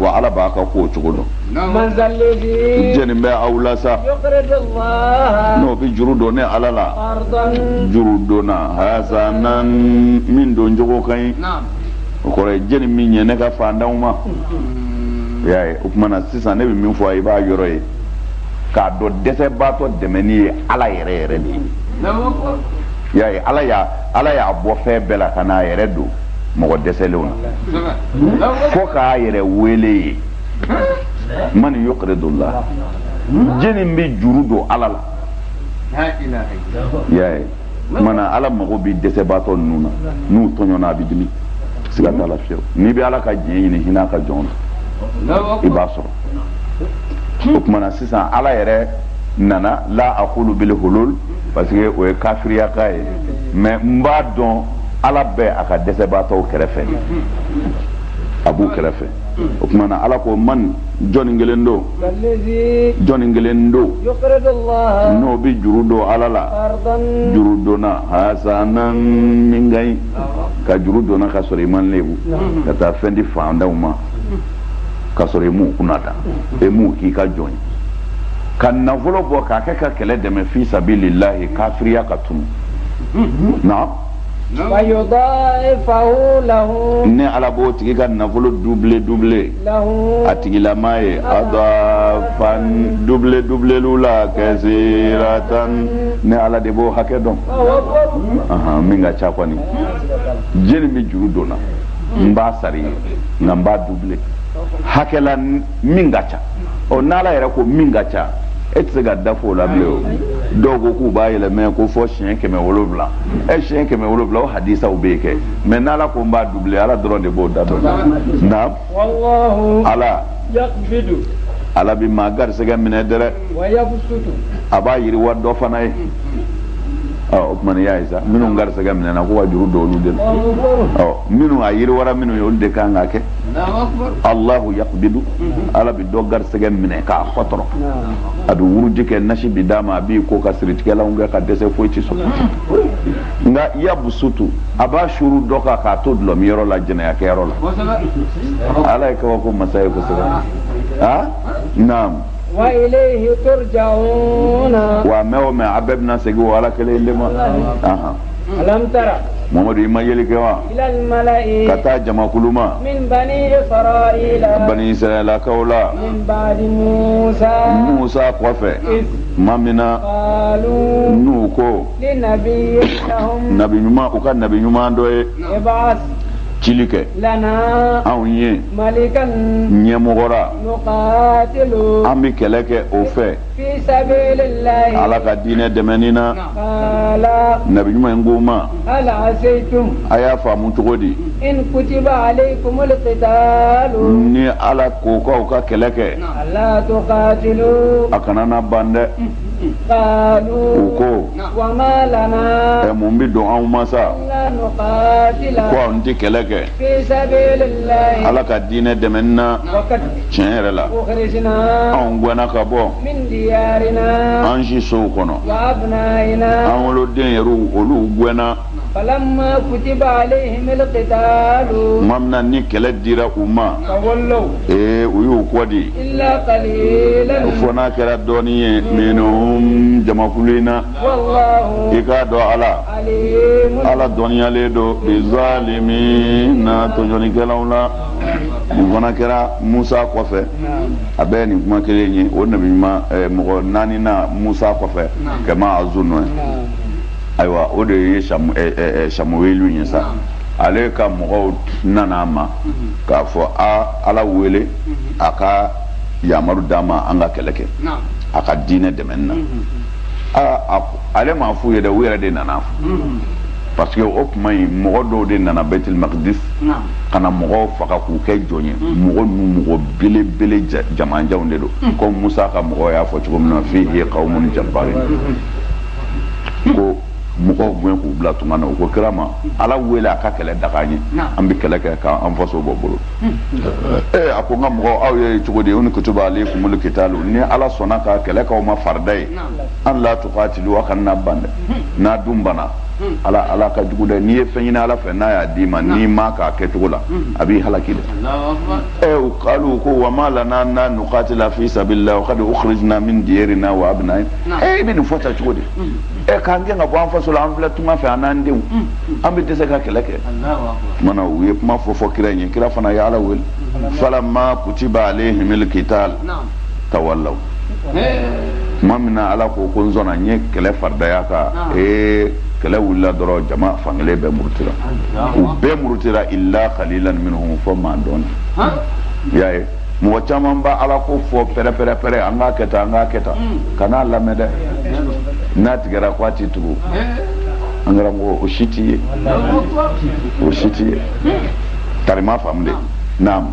wa ala b'a ka ko cogo dɔn jɛni bɛ aw la sa n'o bɛ juru don ne ala la juru donna hasanan min don cogo ka ɲi o kɔrɔ ye jɛni min ɲɛ ne ka fantanw ma o y'a ye o tuma na sisan ne bɛ min fɔ a ye i b'a yɔrɔ ye k'a dɔn dɛsɛbaatɔ dɛmɛni ye ala yɛrɛ yɛrɛ de ye i y'a ye ala y'a ala y'a bɔ fɛn bɛɛ la ka n'a yɛrɛ don mɔgɔ dɛsɛlenw na fo k'a yɛrɛ wele ye man yuqridullah jɛni bɛ juru don ala la y'a ye o tuma na ala mago bɛ dɛsɛbaatɔ ninnu na n'u tɔɲɔna a bɛ dimi siga t'a la fiyewu n'i bɛ ala ka diɲɛ ɲini hinɛ a ka jɔn na i b'a sɔrɔ o tuma na sisan ala yɛrɛ ana la aqulu bil hulul parce que o ye kafiriyakan ye mais n b'a dɔn ala bɛ a ka dɛsɛbaatɔw kɛrɛfɛ a b'u kɛrɛfɛ o tuma na ala ko man jɔnni kelen don jɔnni kelen don n'o bɛ juru don ala la juru donna hasanan min ka ɲi ka juru donna ka sɔrɔ i m'a lebu ka taa fɛn di fantanw ma ka sɔrɔ i m'u kunna ta e m'u k'i ka jɔn ye ka nafolo bɔ k'a kɛ ka kɛlɛ dɛmɛ fi sabilillahi kafiriya ka tunu na ne ala b'o tigi ka nafolo double double a tigilama ye adafan double doublelu la kasiratan ne ala de b'o hakɛ dɔn min ka ca kɔni jɛni bɛ juru don n na n b'a sar'i ye nka n b'a double hakɛ la min ka ca ɔ n'ala yɛrɛ ko min ka ca e tɛ se ka da f'o la bilen o dɔw ko k'u b'a yɛlɛmɛ ko fo siɲɛ kɛmɛ wolonwula ɛ siɲɛ kɛmɛ wolonwula o hadisaw bɛ yen kɛ mais n'ala ko n b'a double ala dɔrɔn de b'o da dɔn na ala ala bɛ maa garisɛgɛ minɛ dɛrɛ a b'a yiriwa dɔ fana ye ɔ o tuma n'i y'a ye sa minnu garisɛgɛ minɛna ko ka juru don olu de la ɔ minnu a yiriwara minnu ye olu de kan k'a kɛ Alahu yaqbidu ala bɛ dɔ garisɛgɛ minɛ k'a kɔtɔrɔ a bɛ wurudi kɛ nasi bɛ d'a ma a b'i ko ka siritigɛlanw kɛ ka dɛsɛ foyi ti sɔrɔ nka yabsutu a b'a suuru dɔ kan k'a to dulɔmiyɔrɔ la jɛnɛyakɛyɔrɔ la ala ye kabako masa ye kosɛbɛ aa naamu wa ilayhi turjauna wa mɛɛn o mɛɛn a bɛɛ bɛna segin o ala kelen de ma alam tara mamadu i ma yeli kɛ wa ka taa jamakulu ma bani israɛlakaw la musa kɔfɛ tuma min na n'u ko nabi ɲuman u ka nabi ɲuman dɔ ye cili kɛ anw ye ɲɛmɔgɔra an bɛ kɛlɛ kɛ o fɛ ala ka diinɛ dɛmɛni na nabi ɲuman in k'u ma a y'a faamu cogo di ni ala ko k'aw ka kɛlɛ kɛ a kana na ban dɛ u ko ɛ mun bɛ don anw ma sa ko anw tɛ kɛlɛ kɛ ala ka diinɛ dɛmɛni na tiɲɛ yɛrɛ la anw gɛnna ka bɔ an si sow kɔnɔ an woloden yɛrɛw olu gɛnna falamma kutiba alayhim alqitalu tuma min na ni kɛlɛ dira u ma tawallaw ee u y'u kɔ di illa qalilan fo n'a kɛra dɔɔnin ye minhum jamakulu in na wallahu i k'a dɔn ala ala dɔnniyalen don bizalimina tɔɲɔnikɛlaw la nin fana kɛra musa kɔfɛ a bɛɛ nin kuma kelen ye o nabi ɲuman eh, mɔgɔ naaninan musa kɔfɛ kama azunnu ye ayiwa o de ye samuwelu eh, eh, ye sa ale ka mɔgɔw nana a ma k'a fɔ a ala wele a ka yamaru d'a ma an ka kɛlɛ kɛ a ka diinɛ dɛmɛni na ale m'a f'u ye dɛ u yɛrɛ de nan'a fɔ parce que o kuma in mɔgɔ dɔw de nana bɛtil makidis ka na mɔgɔw faga k'u kɛ jɔn ye mm. mɔgɔ ninnu mɔgɔ belebele jamanjanw de don mm. comme musa ka mɔgɔw y'a fɔ cogo min na fihi kawumun jabarin mm. k'o mɔgɔw gɛn k'u bila tunga na u ko kira ma ala wele a ka kɛlɛ daga an ye an bɛ kɛlɛ kɛ k'an faso bɔ bolo ee a ko n ka mɔgɔw aw ye cogo di in kutiba alekumul kitaalu ni ala sɔnna ka kɛlɛ k'aw ma farida ye an la tukatilu a kana na ban dɛ n'a dun banna ala ala ka jugu dɛ n'i ye fɛn ɲini ala fɛ n'a y'a d'i ma n'i m'a k'a kɛcogo la a b'i halaki dɛ ɛ kalu ko wa ma lana na nukatila fi sabililahi wa kadi ukhrijna min diyarina wa abna'ina ɛ i bɛ nin fɔ tan cogo di ɛ k'an gɛn ka bɔ an faso la an filɛ tunga fɛ an n'an denw an bɛ dɛsɛ ka kɛlɛ kɛ mana u ye kuma fɔ fɔ kira in ye kira fana ye ala wele falama kutiba alehimil kital tawallaw tuma min na ala ko ko n sɔnna n ye kɛlɛ faridaya kan ee kɛlɛ wulila dɔrɔn jama fankelen bɛɛ murutira u bɛɛ murutira illa qalilan minhum fɔ maa dɔɔni i y'a ye mɔgɔ caman bɛ ala ko fɔ pɛrɛpɛrɛpɛrɛ an k'a kɛ tan an k'a kɛ tan kan'a lamɛn dɛ n'a tigɛra ko a tɛ tugu an karamɔgɔ u si tɛ ye u si tɛ ye tarima faamu dɛ naam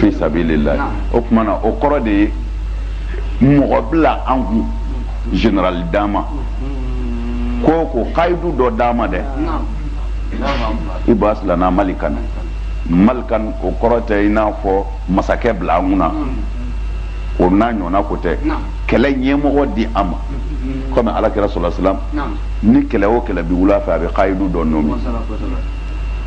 fi sabilillahi o kumana o kɔrɔ de ye mɔgɔ bila an kun général d'an ma ko ko kayidu dɔ d'an ma dɛ ib'as lana malikan malikan o kɔrɔ tɛ i n'a fɔ masakɛ bila an kunna o n'a ɲɔgɔnna ko tɛ kɛlɛ ɲɛmɔgɔ di an ma komi ala kira sallallahu alaihi wasallam ni kɛlɛ o kɛlɛ bi wuli a fɛ a bɛ kayidu dɔ nommé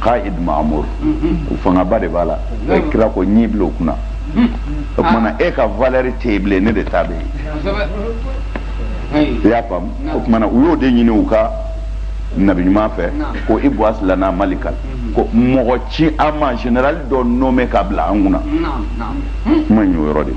qa'id ma'mur fangaba de b'a la e kira ko n y'i bila o kunna o kumana e ka valeur tɛ yen bilen ne de ta bɛ yen i y'a faamu o kumana u y'o de ɲini u ka nabi ɲuman fɛ ko ib'as lana malikan ko mɔgɔ ci an ma général dɔ nommé ka bila an kunna kuma in y'o yɔrɔ de ye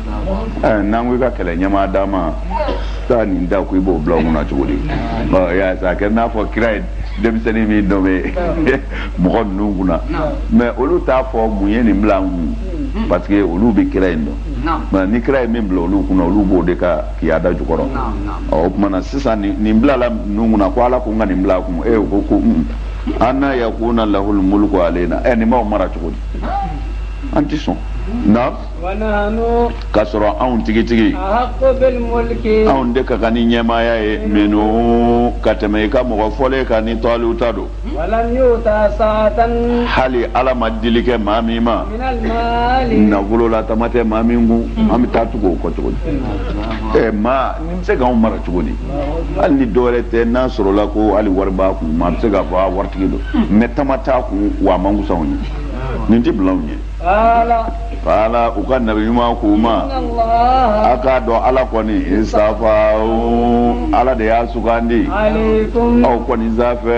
eh, n'an ko i ka kɛlɛ ɲɛmaa d'an ma taa nin ta ko i b'o bila an kunna cogo di y'a sa a kɛra n'a fɔ kira ye denmisɛnnin min nommé mɔgɔ ninnu kunna mais olu t'a fɔ mun ye nin bila an kun hmm. parce que olu bɛ kira in dɔn mais ni kira ye min bila olu kunna olu b'o de ka kiyada jukɔrɔ o kumana sisan nin bilala ninnu kunna ko ala ko n ka nin bila a kun o ko ko hmm, anna yakunu lahul mulku alayna ɛ nin b'an mara cogo di an tɛ sɔn na k'a sɔrɔ anw tigitigi anw de ka kan ni ɲɛmaaya ye minhu ka tɛmɛ i ka mɔgɔ fɔlen kan ni tɔluta don hali ala ma dili kɛ maa min ma nafolo la tama tɛ maa min kun an bɛ taa tugu o kɔ cogo di ɛ maa nin bɛ se k'anw mara cogo di hali ni dɔwɛrɛ tɛ n'a sɔrɔla ko hali wari b'a kun maa bɛ se k'a fɔ a waritigi don mais tama t'a kun wa a man kusa anw ye nin tɛ bila anw ɲɛ qala u ka nabi ɲuman k'u ma a k'a dɔn ala kɔni istafahu ala de y'a sugandi aw kɔni sanfɛ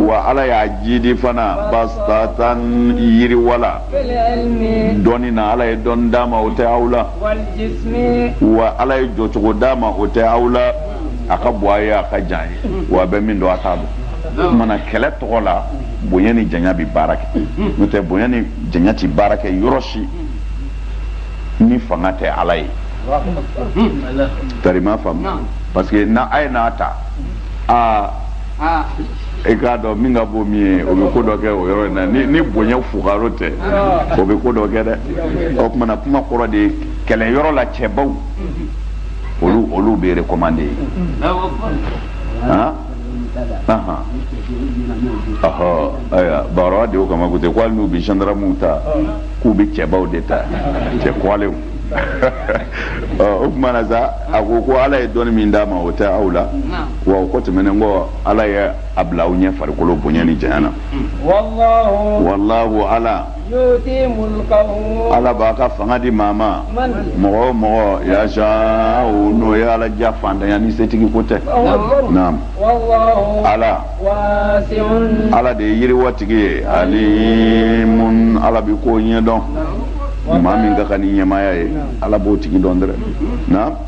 wa ala y'a jidi fana bastatan yiriwala dɔnni na ala ye dɔnni d'a ma o tɛ aw la wa ala ye jɔcogo d'a ma o tɛ aw la a ka bon a ye a ka jan ye wa a bɛ min dɔn a t'a dɔn o kumana kɛlɛ tɔgɔ la bonya ni janya bɛ baara kɛ n'o tɛ bonya ni janya tɛ baara kɛ yɔrɔ si ni fanga tɛ a la e tari ma faamu parce que na a ye n'a ta aa e k'a dɔn min ka bon min ye o bɛ ko dɔ kɛ o yɔrɔ in na ni bonya fugaro tɛ o bɛ ko dɔ kɛ dɛ o tuma na kuma kɔrɔ de ye kɛlɛyɔrɔ la cɛbaw olu olu bɛ recommandé ye. ayiwa baara de kama ko ten ko hali n'u bɛ zandaramu ta k'u bɛ cɛbaw de ta cɛ kɔlenw o tuma na sa a ko ko ala ye dɔnni min d'a ma o tɛ aw la wa o kɔ tɛmɛnen kɔ ala ye a bila aw ɲɛ farikolo bonya ni janya na wallahu ala ala b'a ka fanga di maa ma mɔgɔ o mɔgɔ yasha n'o ye ala diya fantanya ni setigi ko tɛ naamu ala ala de ye yiriwatigi ye alimun ala bɛ ko ɲɛdɔn maa min ka kan ni ɲɛmaaya ye ala b'o tigi dɔn dɛ naamu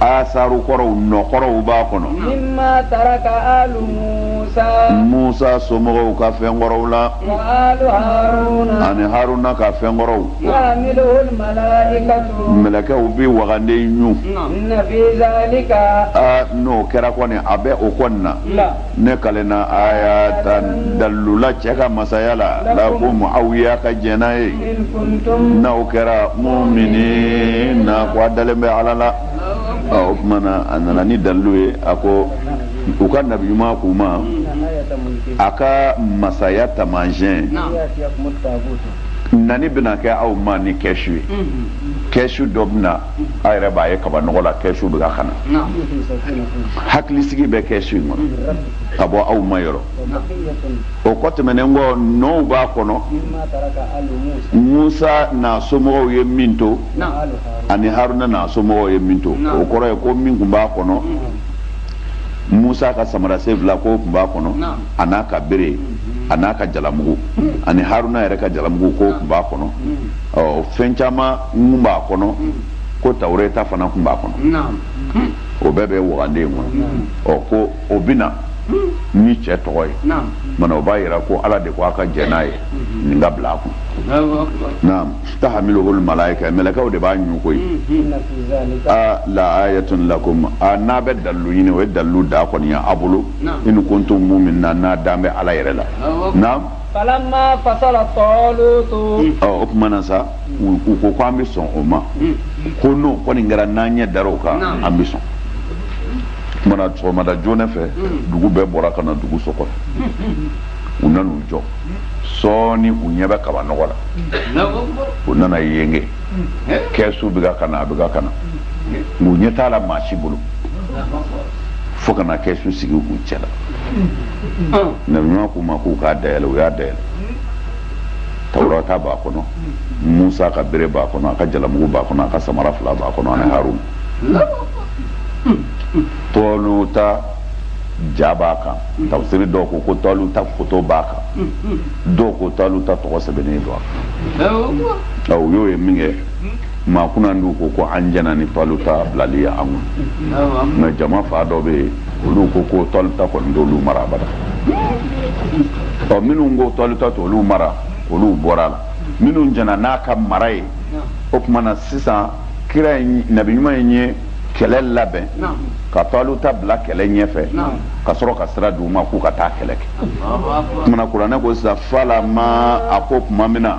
asaru kɔrɔw nɔ kɔrɔw b'a kɔnɔ musa somɔgɔw ka fɛn kɔrɔw la ani haruna ka fɛn kɔrɔw mɛlɛkɛw bɛ wagande ɲu n'o kɛra kɔni a bɛ o kɔni na ne kalenna ayatan dalilu la cɛ ka masaya la lakum aw y'a ka jɛn n'a ye n'aw kɛra muminina ko a dalen bɛ ala la o tuma na a nana ni dalilu ye a ko u ka nabi ɲuman k'u ma a ka masaya taamasiyɛn nani bɛna kɛ aw ma ni kɛsu ye kɛsu dɔ bɛ na a yɛrɛ b'a ye kabanɔgɔ la kɛsu bɛ kan ka na hakilisigi bɛ kɛsu in kɔnɔ ka bɔ aw ma yɔrɔ o kɔ tɛmɛnen kɔ nɔw b'a kɔnɔ musa n'a somɔgɔw ye min to ani haruna n'a somɔgɔw ye min to o kɔrɔ ye ko min tun b'a kɔnɔ musa ka samara sen fila k'o tun b'a kɔnɔ an'a ka bere an'a ka jalamugu ani haruna yɛrɛ ka jalamugu k'o tun b'a kɔnɔ ɔ fɛn caman tun b'a kɔnɔ ko tawureta fana tun b'a kɔnɔ o bɛɛ bɛ wagande in kɔnɔ ɔ ko o bɛ na ni cɛ tɔgɔ ye mana o b'a yira ko ala de ko a ka jɛn n'a ye nin ka bila a kun naam tahamiluhul malaika mɛlɛkɛw de b'a ɲu koyi a la ayatun lakum a n'a bɛ dalilu ɲini o ye dalilu da kɔni ye a bolo in kuntum mu'minina n'a dan bɛ ala yɛrɛ la naam falamma fasala tɔɔlutu. ɔ o tuma na sa u ko ko an bɛ sɔn o ma ko n'o kɔni kɛra n'an ɲɛ dara o kan an bɛ sɔn tuma na sɔgɔmada joona fɛ dugu bɛɛ bɔra ka na dugu so kɔnɔ u nana u jɔ sɔɔni u ɲɛ bɛ kabanɔgɔ la u nana yenge kɛsu bɛ ka ka na a bɛ ka ka na u ɲɛ t'a la maa si bolo fo ka na kɛsu sigi u cɛ la. nabi ɲuman k'u ma k'u k'a dayɛlɛ u y'a dayɛlɛ tawurata b'a kɔnɔ musa ka bere b'a kɔnɔ a ka jalamugu b'a kɔnɔ a ka samara fila b'a kɔnɔ ani harun tɔluta ja b'a kan tafsiri dɔw ko ko tɔluta foto b'a kan dɔw ko tɔluta tɔgɔ sɛbɛnnen don a kan u y'o ye min kɛ maa kunnandiw ko ko an jɛna ni tɔluta bilali ye an kun mais jama fan dɔ bɛ yen olu ko ko tɔluta kɔni t'olu mara abada ɔ minnu ko tɔluta t'olu mara olu bɔra a la minnu jɛna n'a ka mara ye o tuma na sisan kira in nabi ɲuman in ye kɛlɛ labɛn ka tɔluta bila kɛlɛ ɲɛfɛ ka sɔrɔ ka sira d'u ma k'u ka taa kɛlɛ kɛ o tuma na kuranɛ ko sisan falamma a ko tuma min na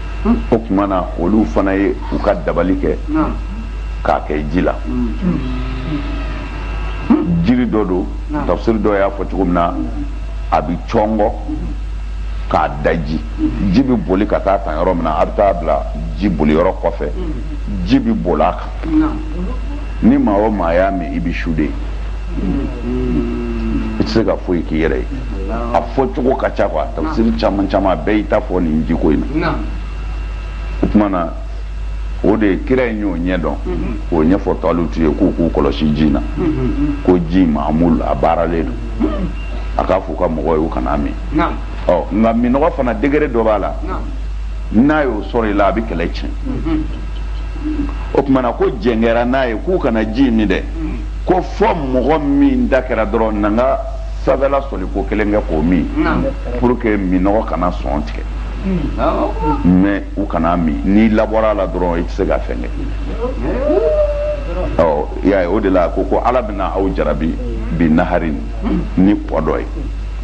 hmm. o tuma na olu fana ye u ka dabali kɛ k'a kɛ ji la jiri dɔ don tafsiri dɔ y'a fɔ cogo min na a bɛ cɔngɔ k'a daji ji bɛ boli ka taa tan yɔrɔ min na a bɛ taa bila ji boli yɔrɔ kɔfɛ ji bɛ boli a kan ni maa o maa y'a min i bɛ su de i tɛ se ka foyi k'i yɛrɛ ye a fɔ cogo ka ca quoi tafsiri caman caman bɛɛ y'i ta fɔ nin jiko in na o tuma na o de kira in y'o ɲɛ dɔn k'o ɲɛfɔ talutu ye k'u k'u kɔlɔsi ji in na ko ji maamul a baaralen don a k'a f'u ka mɔgɔw ye u kana min ɔ nka minnɔgɔ fana degré dɔ b'a la n'a y'o sɔrɔ i la a bɛ kɛlɛ tiɲɛ o tuma na ko jɛn kɛra n'a ye k'u kana ji min dɛ ko fo mɔgɔ min da kɛra dɔrɔn na n ka sanfɛla soli ko kelen kɛ k'o min pour que minnɔgɔ kana sɔn tigɛ mais u kana min n'i labɔra a la dɔrɔn i tɛ se ka fɛn kɛ ɔ y'a ye o de la ko ko ala bɛna aw jarabi bi naharin ni kɔ dɔ ye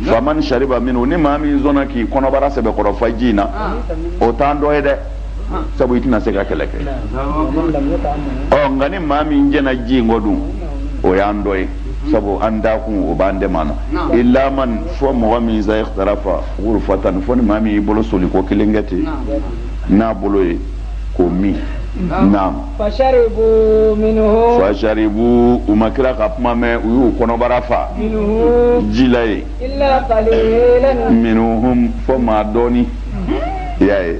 faman shariba minhu ni maa min sɔnna k'i kɔnɔbara sɛbɛkɔrɔ fa ji in na o t'an dɔ ye dɛ sabu i tɛna se ka kɛlɛ kɛ ɔ nka ni maa min jɛna ji in kɔ dun o y'an dɔ ye sabu an da kun o b'an dɛmɛ na illa man fɔ mɔgɔ min sa ikhtarafa ghurfatan fɔ ni maa min y'i bolo soliko kelen kɛ ten n'a bolo ye k'o min naam fasharibu minhu fasharibu u ma kira ka kuma mɛn u y'u kɔnɔbara fa ji la ye minhum fɔ maa dɔɔni i y'a ye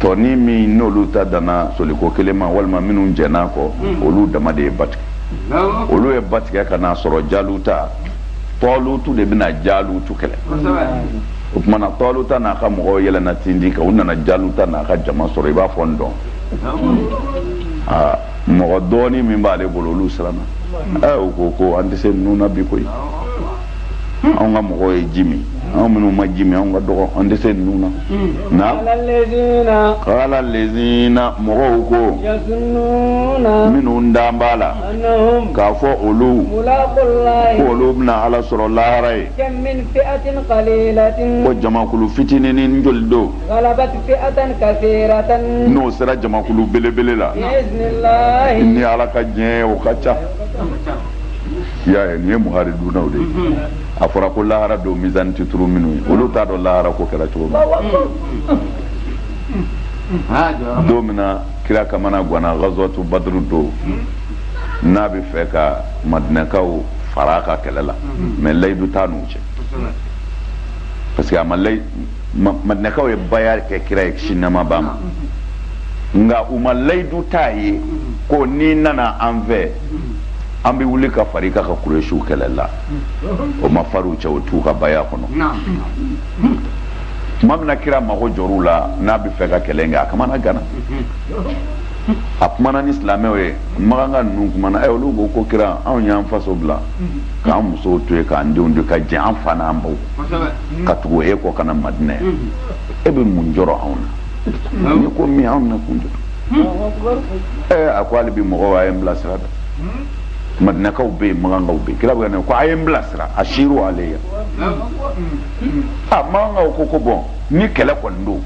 tɔ nin min n'olu ta danna soliko kelen ma walima minnu jɛn'a kɔ olu dama de ye ba tigɛ olu ye ba tigɛ ka n'a sɔrɔ jaluta tɔlutu de bɛna jalutu kɛlɛ o tuma na tɔluta n'a ka mɔgɔw yɛlɛnna tindi kan u nana jaluta n'a ka jama sɔrɔ i b'a fɔ n dɔn aa mɔgɔ dɔɔni min b'ale bolo olu siranna ɛ u ko ko an tɛ se ninnu na bi koyi Hmm. anw ka mɔgɔw ye ji min anw minnu ma ji min anw ka dɔgɔ an tɛ se ninnu na hmm. na qala allazina mɔgɔw ko minnu dalen b'a la k'a fɔ olu ko olu bɛna ala sɔrɔ lahara yen ko jamakulu fitininin joli don n'o sera jamakulu belebele la ni ala ka diɲɛ o ka ca i y'a ye nin ye muharibunaw de ye mhm. a fɔra ko lahara don mizani tɛ turu minnu ye olu t'a dɔn lahara ko kɛra cogo min mhm. don min na kira kamanaganna ghazwatu badru don mhm. n'a bɛ fɛ ka madinɛkaw fara a ka kɛlɛ la mais layidu t'a n'u cɛ parce que a ma layi madinɛkaw ye baya kɛ kira ye kisi nɛɛma b'a ma nka u ma layidu t'a ye ko n'i nana an fɛ an bɛ wuli ka far'i ka ka kuresiw kɛlɛ la o ma far'u cɛ o t'u ka baya kɔnɔ tuma min na kira mago jɔr'u la n'a bɛ fɛ ka kɛlɛ kɛ a kamanaganna a kumana ni silamɛw ye makanka ninnu kumana ɛ olu ko ko kira anw y'an faso bila k'an musow to yen k'an denw to yen ka jɛn an fa n'an baw ka tugu e kɔ ka na madinɛ e bɛ mun jɔrɔ anw na n'i ko min anw n'a kun jɔ ɛ a ko hali bi mɔgɔw a ye n bilasira madinakaw bɛ yen makankaw bɛ yen kira bɛ ka ko a ye n bilasira ashiru alayya makankaw ko ko bon ni kɛlɛ kɔni don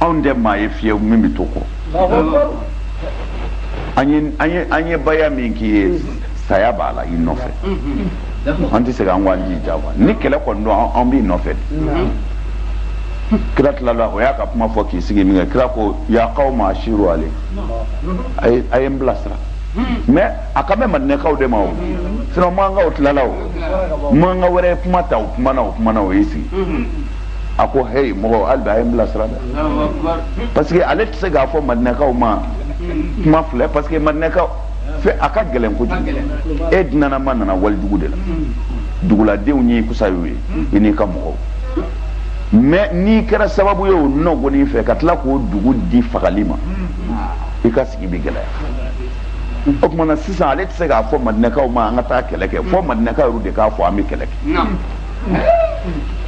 anw tɛ maa ye fiyewu min bɛ to kɔ an ye baya min k'i ye saya b'a la i nɔfɛ an tɛ segin an k'an jija wa ni kɛlɛ kɔni don an b'i nɔfɛ de kira tilala o y'a ka kuma fɔ k'i sigi min kɛ kira ko ya qawm ashiru ale a ye a ye n bilasira mais a kan bɛ madinɛkaw de ma o sinon makankaw tilala o makanka wɛrɛ ye kuma ta o kumana o kumana o y'i sigi a ko heyi mɔgɔ hali bi a ye n bilasira dɛ parce que ale tɛ se k'a fɔ madinɛkaw ma kuma filɛ parce que madinɛkaw fɛ a ka gɛlɛn kojugu e dunanama nana walidugu de la duguladenw y'i kusa y'u ye i n'i ka mɔgɔw mais n'i kɛra sababu ye o nɔgɔnin fɛ ka tila k'o dugu di fagali ma i ka sigi bɛ gɛlɛya o tuma na sisan ale tɛ se k'a fɔ madinɛkaw ma an ka taa kɛlɛ kɛ fo madinɛkaw yɛrɛ de k'a fɔ an bɛ kɛlɛ kɛ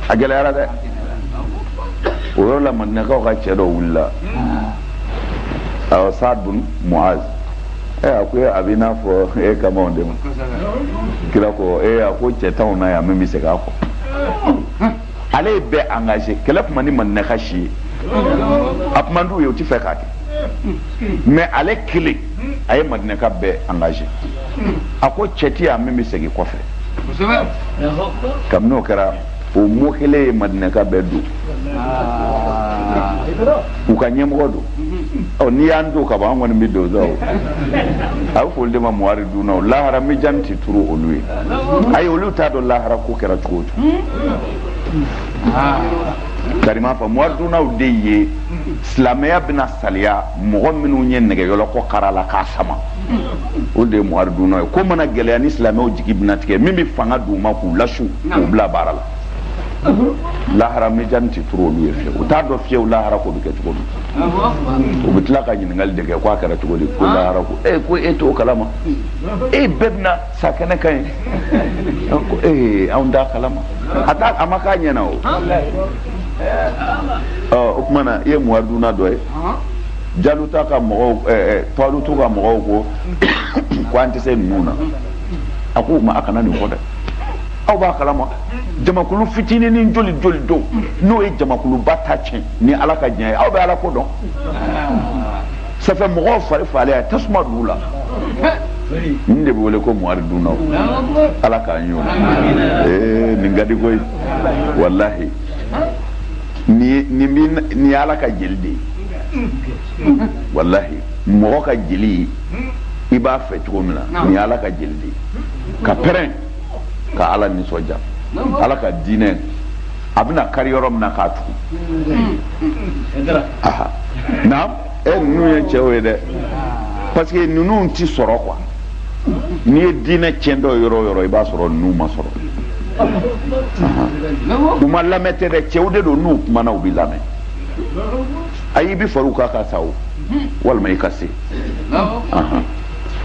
a gɛlɛyara dɛ o yɔrɔ la madinɛkaw ka cɛ dɔ wulila awɔ saad bun muaz ɛ a ko a b'i n'a fɔ e kan b'anw de ma kira ko ee a ko cɛ t'anw na yan min bɛ segin a kɔfɛ ale ye bɛɛ engagé kɛlɛ tun man di madinaka si ye a tun man d'u ye u ti fɛ k'a kɛ mais ale kelen a ye madinaka bɛɛ engagé a ko cɛ ti yan min bɛ segin kɔfɛ kabini o kɛra o mɔgɔ kelen ye madinaka bɛɛ don u ka ɲɛmɔgɔ don ɔ n'i y'an don ka ban an kɔni bɛ don sa o a bɛ fɔ olu de ma muharidunnaw lahara mijan tɛ turu olu ye ayi olu t'a dɔn lahara ko kɛra cogo o cogo karima fɔ muharidunnaw de ye silamɛya bɛna saliya mɔgɔ minnu ye nɛgɛyɔlɔkɔ kara la k'a sama o de ye muharidunna ye ko mana gɛlɛya ni silamɛw jigi bɛna tigɛ min bɛ fanga d'u ma k'u lasu k'u bila baara la lahara mijan tɛ turu olu ye fiyewu u t'a dɔn fiyewu lahara ko bɛ kɛ cogo min u bɛ tila ka ɲininkali de kɛ ko a kɛra cogo di ko lahara ko ee ko e t'o kalama e bɛɛ bɛna sa kɛnɛ kan yen ko ee anw t'a kalama a t'a a ma k'an ɲɛna o ɔ o tuma na i ye muharidunna dɔ ye. jaluta ka mɔgɔw talutu ka mɔgɔw ko ko an tɛ se ninnu na a k'u ma a kana nin fɔ dɛ aw b'a kalama jamakulu fitinin ni joli joli don n'o ye jamakuluba ta tiɲɛ ni ala ka diɲɛ ye aw bɛ ala ko dɔn ça fait mɔgɔw fari fagalen a tasuma d'u la nin de bɛ wele ko muharidunnaw ala k'an y'o la ee nin ka di koyi walahi nin ye nin bɛ nin ye ala ka jeli de ye walahi mɔgɔ ka jeli i b'a fɛ cogo min na nin ala ka jeli de ka pɛrɛn ka ala nisɔndiya ala ka diinɛ a bɛna kari yɔrɔ min na k'a tugu naam e ninnu ye cɛw ye dɛ parce que ninnu ti sɔrɔ quoi n'i ye diinɛ tiɲɛtɔ yɔrɔ o yɔrɔ i b'a sɔrɔ ninnu ma sɔrɔ u ma lamɛn tɛ dɛ cɛw de don n'u kumana u bɛ lamɛn ayi i bɛ far'u kan ka sa o walima i ka se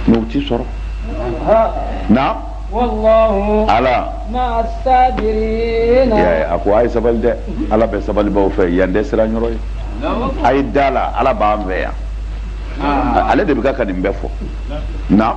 mais u t'i sɔrɔ naam ala a ko a ye sabali dɛ ala bɛ sabalibaaw fɛ yan tɛ siran yɔrɔ ye a ye da la ala b'an fɛ yan ale de bɛ ka ka nin bɛɛ fɔ naam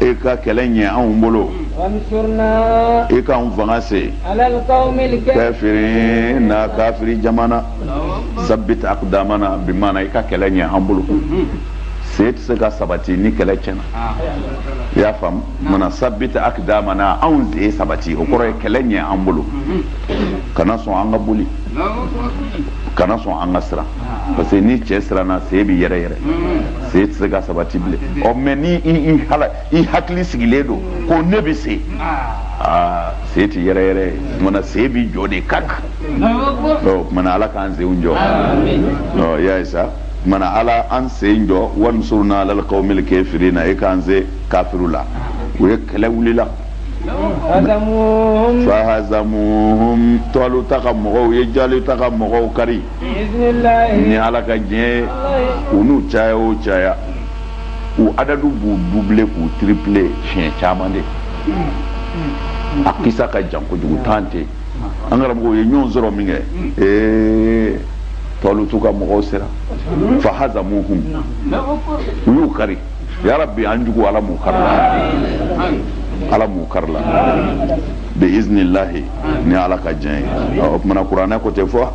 e ka kɛlɛ ɲɛ anw bolo e ka anw fanga se kafirina kafiri jama na sabit akdamana bi mana i ka kɛlɛ ɲɛ an bolo sen tɛ se ka sabati ni kɛlɛ tiɲɛna i y'a faamu mana sabit akdamana anw sen sabati o kɔrɔ ye kɛlɛ ɲɛ an bolo kana sɔn an ka boli kana sɔn an ka siran parce que ni cɛ siranna sen bɛ yɛrɛyɛrɛ sen tɛ se ka sabati bilen ɔ mais ni i hala i hakili sigilen don ko ne bɛ se aa sen tɛ yɛrɛyɛrɛ o tumana sen bɛ jɔ de ka kan o tumana ala k'an senw jɔ ɔ y'a ye sa o tumana ala an sen jɔ wansurna alal kawmil kafirina e k'an se kafiriw la o ye kɛlɛ wulila fahazamuhum tɔluta ka mɔgɔw u ye jaluta ka mɔgɔw kari ni ala ka diɲɛ u n'u caya o caya u adadu b'u doubler k'u tripler siɲɛ caman dɛ a kisa ka jan kojugu tan tɛ an karamɔgɔ u ye ɲɔgɔn sɔrɔ min kɛ ee tɔlutu ka mɔgɔw sera fahazamuhum u y'u kari yarabi an juguw ala m'u kari la ala m'u kari la bi iznillahi ni ala ka diɲɛ ye o tumana kuranɛ ko tɛ fɔ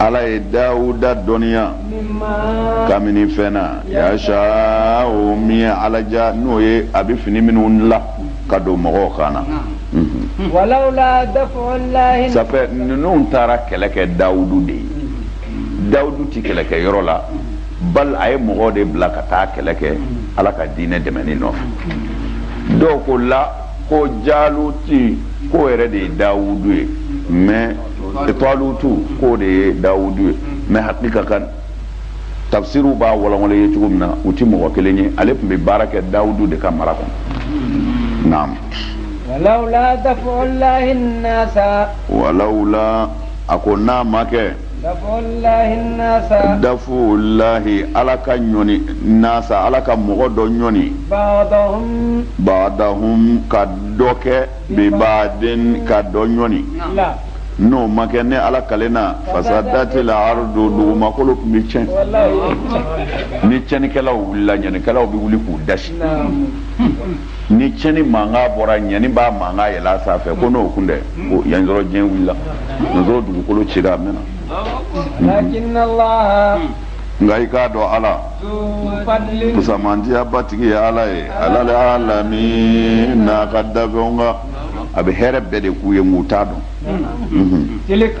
ala ye dawuda dɔnniya ka minɛ fɛn na yashau min ye ala diya n'o ye a bɛ fini minnu la ka don mɔgɔw kan na ça fait ninnu taara kɛlɛ kɛ dawudu de ye dawudu tɛ kɛlɛ kɛ yɔrɔ la bal a ye mɔgɔw de bila ka taa kɛlɛ kɛ ala ka diinɛ dɛmɛni nɔfɛ dɔw ko la ko jaluti k'o yɛrɛ de ye dawudu ye mais talutu k'o de ye dawudu ye mais hakika kan tafsiriw b'a walawala ye cogo min na u ti mɔgɔ kelen ye ale tun bɛ baara kɛ dawudu de ka mara kɔnɔ naam walawla daf'u llahi nnasa walawla a ko n'a ma kɛ dafulahi ala ka ɲɔni nasa ala ka mɔgɔ dɔ ɲɔni badahum ka dɔ kɛ bibaadin ka dɔ ɲɔni n'o ma kɛ ne ala kalen lafasadati lardu dugumakolo tun bɛ tiɲɛ ni tiɲɛnikɛlaw wulila ɲanikɛlaw bɛ wuli k'u dasi ni cɛni mankan bɔra ɲani b'a mankan yɛlɛ a sanfɛ ko n'o kun tɛ ko y'a sɔrɔ diɲɛ wulila y'a sɔrɔ dugukolo cira a mɛnna nka i k'a dɔn ala kusamandiyaba tigi ye ala ye alal alami n'a ka danfɛnw kan a bɛ hɛrɛ bɛɛ de k'u ye nk'u t'a dɔn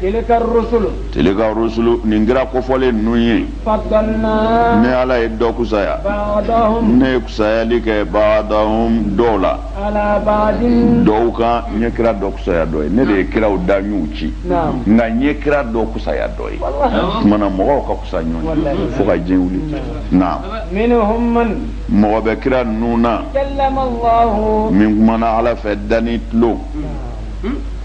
tilika rusulu nin kira kofɔlen ninnu ye ne ala ye dɔ kusaya ne ye kusayali kɛ badahum dɔw la dɔw kan n ye kira dɔ kusaya dɔ ye ne de ye kiraw dan n y'u ci nka n ye kira dɔ kusaya dɔ ye o tuma na mɔgɔw ka kusa ɲɔgɔn fo ka diɲɛ wuli na mɔgɔ bɛ kira ninnu na min kumana ala fɛ da ni tulo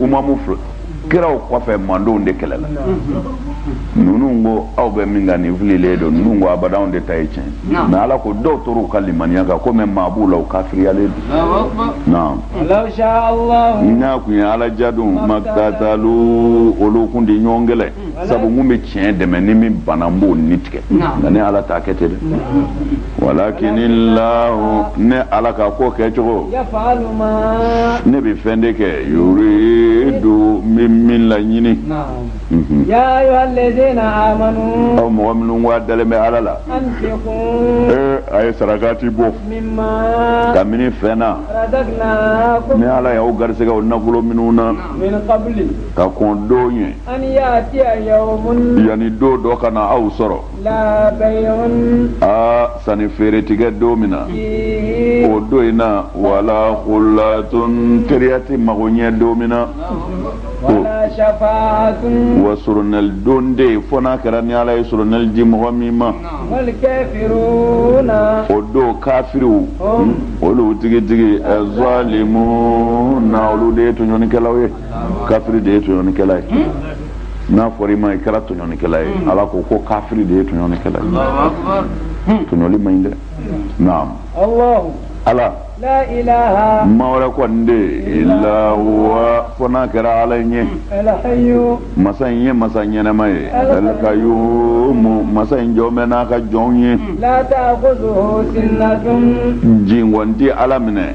umamu kiraw kɔfɛ mandenw de kɛlɛla ninnu ko aw bɛ min kan nin fililen don ninnu ko abada anw de ta ye tiɲɛ mais ala ko dɔw tora u ka limaniya kan komi maa b'u la u kafiriyalen don naam n'a kun ye ala diya dun makitatalu olu kun tɛ ɲɔgɔn kɛlɛ sabu n kun bɛ tiɲɛ dɛmɛ ni min banna n b'o ni tigɛ nka ne ala t'a kɛ ten dɛ walakinila ne ala ka ko kɛ cogo ne bɛ fɛn de kɛ yuridu n bɛ min laɲini aw mɔgɔ minnu ko a dalen bɛ ala la ee a ye sarakati bɔ kabini fɛn na ne ala y'aw garisɛgɛ o nafolo minnu na ka kɔn don ɲɛ yanni don dɔ ka na aw sɔrɔ aa sanni feere tɛ kɛ don min na o don in na wala kulatun teriya tɛ mago ɲɛ don min na wa soronali don tɛ yen fo n'a kɛra ni ala ye soronali di mɔgɔ min ma o don kafiriw olu tigitigi zalimuna olu de ye tɔɲɔnikɛlaw ye kafiri de ye tɔɲɔnikɛla ye hmm? n'a fɔra i ma i kɛra tɔɲɔnikɛla ye hmm. ala ko ko kafiri de ye tɔɲɔnikɛla ye hmm. tɔɲɔli man ɲi dɛ naam ala ma wɛrɛ kɔni tɛ yen ila huwa fo n'a kɛra ala in ye masa in ye masa ɲɛnɛma ye alkayyumu masa in jɔlen bɛ n'a ka jɔnw ye jingɔn tɛ ala minɛ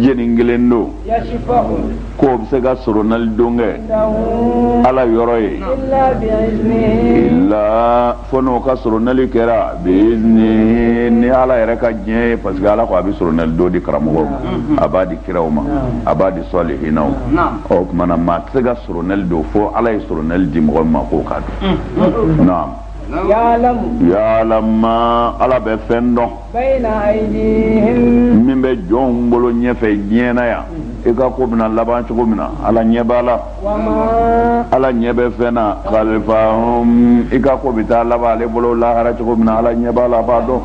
jɛni kelen don k'o bɛ se ka soronali don kɛ ala yɔrɔ ye ila fo n'o ka soronali kɛra bi'izinihi ni ala yɛrɛ ka diɲɛ ye parce que ala ko a bɛ soronali don di karamɔgɔw ma a b'a di kiraw ma a b'a di salihinaw ma o tuma na maa tɛ se ka soronali don fo ala ye soronali di mɔgɔ ma k'o k'a don naam yalamu ala bɛ fɛn dɔn min bɛ jɔnw bolo ɲɛfɛ diɲɛ na yan i ka ko bɛna laban cogo min na ala ɲɛ b'a la ala ɲɛ bɛ fɛn na khalfahum i ka ko bɛ taa laban ale bolo lahara cogo min na ala ɲɛ b'a la b'a dɔn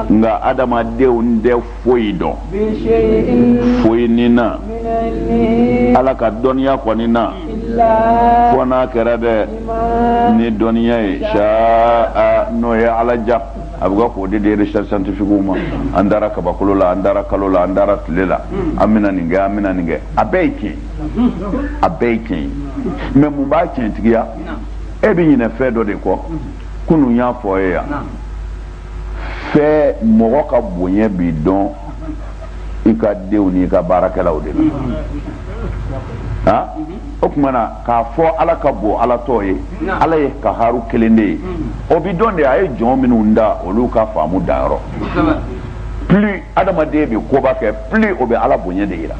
nka adamadenw tɛ foyi dɔn foyi ni na ala ka dɔnniya kɔni na fo n'a kɛra dɛ ni dɔnniya ye sha'a n'o ye ala ja a bɛ ka k'o de di recherche scientifique ma an taara kabakolo la an taara kalo la an taara tile la an bɛna nin kɛ an bɛna nin kɛ a bɛɛ ye tiɲɛ a bɛɛ ye tiɲɛ ye mais mun b'a tiɲɛtigiya e bɛ ɲinɛ fɛn dɔ de kɔ kunun y'a fɔ e ye yan fɛɛ mɔgɔ ka bonya bi dɔn i ka denw n'i ka baarakɛlaw de la a o tuma na k'a fɔ ala ka bon ala tɔ ye ala ye kaharu kelen de ye o bi dɔn de a ye jɔn minnu da olu ka faamu danyɔrɔ plus adamaden bɛ koba kɛ plus o bɛ ala bonya de jira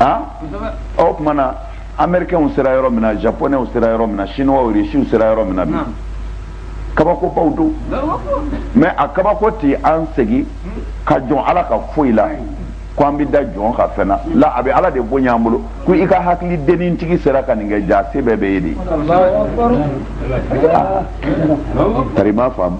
a o tuma na amɛrikɛnw sera yɔrɔ min na japonɛw sera yɔrɔ min na chinois rusiw sera yɔrɔ min na bi kabakobaw don mais a kabako tɛ an segin ka jɔn ala ka foyi la ko an bɛ da jɔn ka fɛn na la a bɛ ala de bonya an bolo ko i ka hakili dennin tigi sera ka nin kɛ ja se bɛɛ b'e ye de tari i m'a faamu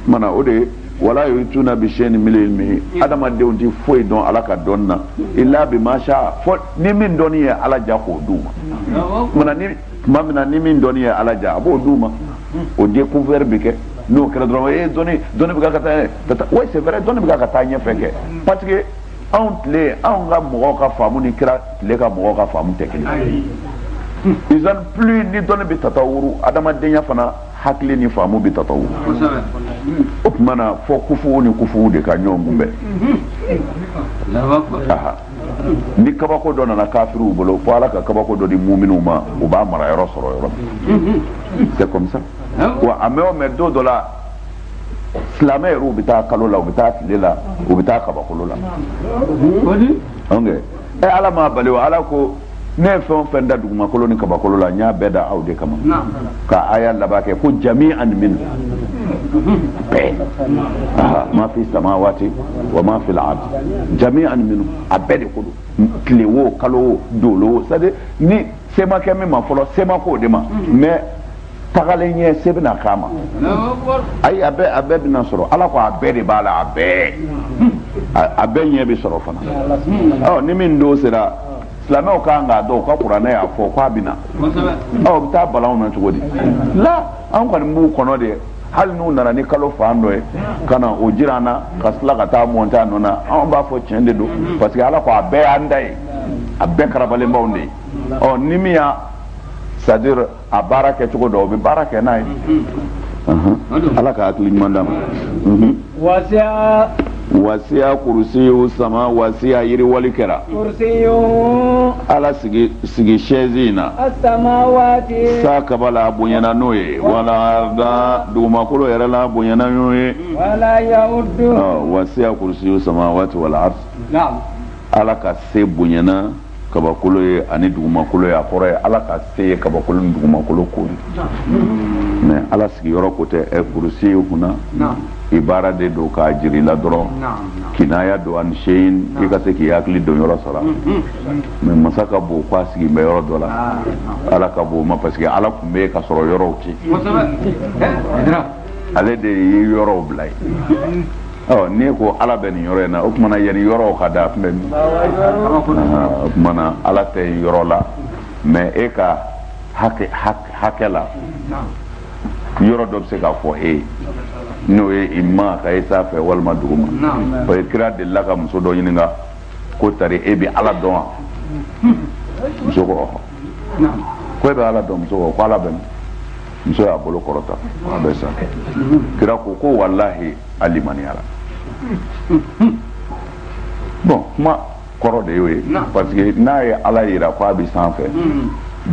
mana o de wala yuhituna bi shay'in min ilmihi adamadenw ti foyi dɔn ala ka dɔnni na illa bima sha'a fo ni min dɔnni ye ala ja k'o d'u ma mana ni tuma min na ni min dɔnni ye ala ja a b'o d'u ma o découvert bɛ kɛ n'o kɛra dɔrɔn ee dɔnni dɔnni bɛ ka taa ɲɛ oui c'est vrai dɔnni bɛ ka taa ɲɛfɛ kɛ parce que anw tile anw ka mɔgɔw ka faamu ni kira tile ka mɔgɔw ka faamu tɛ kelen ye disons plus ni dɔnni bɛ tatawuru adamadenya fana hakili ni faamu bɛ tatawuru o tuma na fo kufuw ni kufuw de ka ɲɔgɔn kunbɛn ni kabako dɔ nana kafiriw bolo fo ala ka kabako dɔ di muminw ma u b'a mara yɔrɔ sɔrɔ yɔrɔ min c'est comme ça wa a mɛɛn o mɛɛn don dɔ la silamɛ yɛrɛ u bɛ taa kalo la u bɛ taa tile la u bɛ taa kabakolo la ok ɛ ala m'a bali wa ala ko ne ye fɛn o fɛn da dugumakolo ni kabakolo la n y'a bɛɛ da aw de kama ka aya laban kɛ ko jami'an minhu bɛɛ ma fi samawati wa ma fi l'ardi jami'an minhu a bɛɛ de ko don tile wo kalo wo dolo wo c'est à dire ni se ma kɛ min ma fɔlɔ se ma k'o de ma mais tagalen ɲɛ se bɛna k'a ma ayi a bɛɛ a bɛɛ bɛna sɔrɔ ala ko a bɛɛ de b'a la a bɛɛ a bɛɛ ɲɛ bɛ sɔrɔ fana ɔ ni min don sera silamɛw ka kan k'a dɔn u ka kuranɛ y'a fɔ k'a bɛ na ɔ u bɛ taa bala an na cogo di la an kɔni b'u kɔnɔ de hali n'u nana ni kalo fan dɔ ye ka na o jira an na ka tila ka taa monter a nɔ na anw b'a fɔ tiɲɛ de don parce que ala ko a bɛɛ y'an ta ye a bɛɛ karabalen b'anw de ye ɔ ni min y'a c'est à dire a baara kɛ cogo dɔn o bɛ baara kɛ n'a ye ala ka hakili ɲuman d'a ma wasiya wasiya kursiyu sama wasiya yiriwali kɛra kursiyu ala sigi sigi sɛzi in na asamawati sa kaba la a bonyana n'o ye wal arda dugumakolo yɛrɛ la bonyana n'o ye wala yawudu wasiya kursiyu samawati wal ard ala ka se bonyana kabakolo ye ani dugumakolo ye a kɔrɔ ye ala ka se ye kabakolo ni dugumakolo koori mais ala sigiyɔrɔ ko tɛ ɛ kurusi ye kunna ibara de don k'a jira i la dɔrɔn kinaya don ani seyi i ka se k'i hakili don yɔrɔ sɔrɔ mais masa ka bon k'a sigilen bɛ yɔrɔ dɔ la ala ka bon o ma parce que ala tun bɛ yen ka sɔrɔ yɔrɔw tɛ yen ale de ye yɔrɔw bila yen ɔ n'i ko ala bɛ nin yɔrɔ in na o tuma na yanni yɔrɔw ka da a tun bɛ min o tuma na ala tɛ yɔrɔ la mais e ka hakɛ hakɛ la yɔrɔ dɔ bɛ se ka fɔ e ye n'o ye ima k'a ye sanfɛ walima duguma parce que kira delila ka muso dɔ ɲininka ko tari e bɛ ala dɔn wa muso ko ɔhɔ ko e bɛ ala dɔn wa muso ko ko ala bɛ min muso y'a bolo kɔrɔta a bɛ sa kira ko ko walahi a limaniyara bɔn kuma kɔrɔ de y'o ye parce que n'a ye ala yira ko a bɛ sanfɛ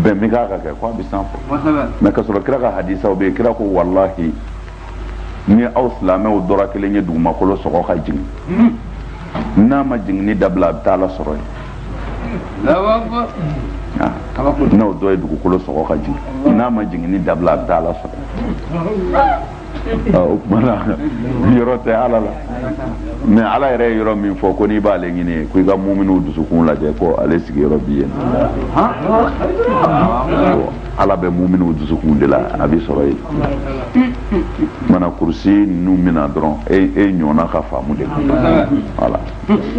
bɛn bɛ k'a kan kɛ ko a bɛ sanfɛ mais ka sɔrɔ kira ka hadisaw bɛ yen kira ko walahi ni aw silamɛw dɔ ra kelen ye dugumakolo sɔgɔ ka jigin n'a ma jiginni dabila a bɛ taa ala sɔrɔ yen n'aw dɔ ye dugukolo sɔgɔ ka jigin n'a ma jiginni dabila a bɛ taa ala sɔrɔ o tuma na yɔrɔ tɛ ala la mais ala yɛrɛ ye yɔrɔ min fɔ ko n'i b'ale ɲini ko i ka muminiw dusukun lajɛ ko ale sigiyɔrɔ bi yen ala bɛ muminiw dusukun de la a bɛ sɔrɔ yen mana kurusi ninnu mina dɔrɔn e e ɲɔgɔnna ka faamu de voilà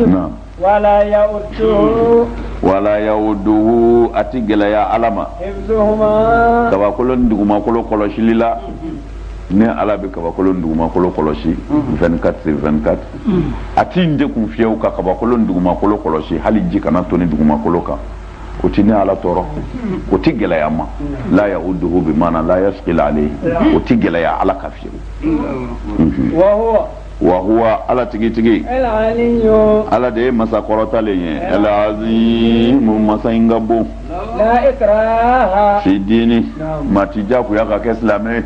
naam wala yauduhu wala yauduhu a ti gɛlɛya ala ma kabakolo ni dugumakolo kɔlɔsili la ni ala bɛ kabakolo ni dugumakolo kɔlɔsi 24 sur 24 a ti n degun fiyewu ka kabakolo ni dugumakolo kɔlɔsi hali ji kana toni dugumakolo kan o tɛ ne ala tɔɔrɔ o tɛ gɛlɛya ma la yauduhu bi maana la yasqil alayhi o tɛ gɛlɛya ala kan fiyewu wahuwa ala tigitigi ala de ye masa kɔrɔtalen ye alazimu masa in ka bon fi dini maa ti jagoya ka kɛ silamɛ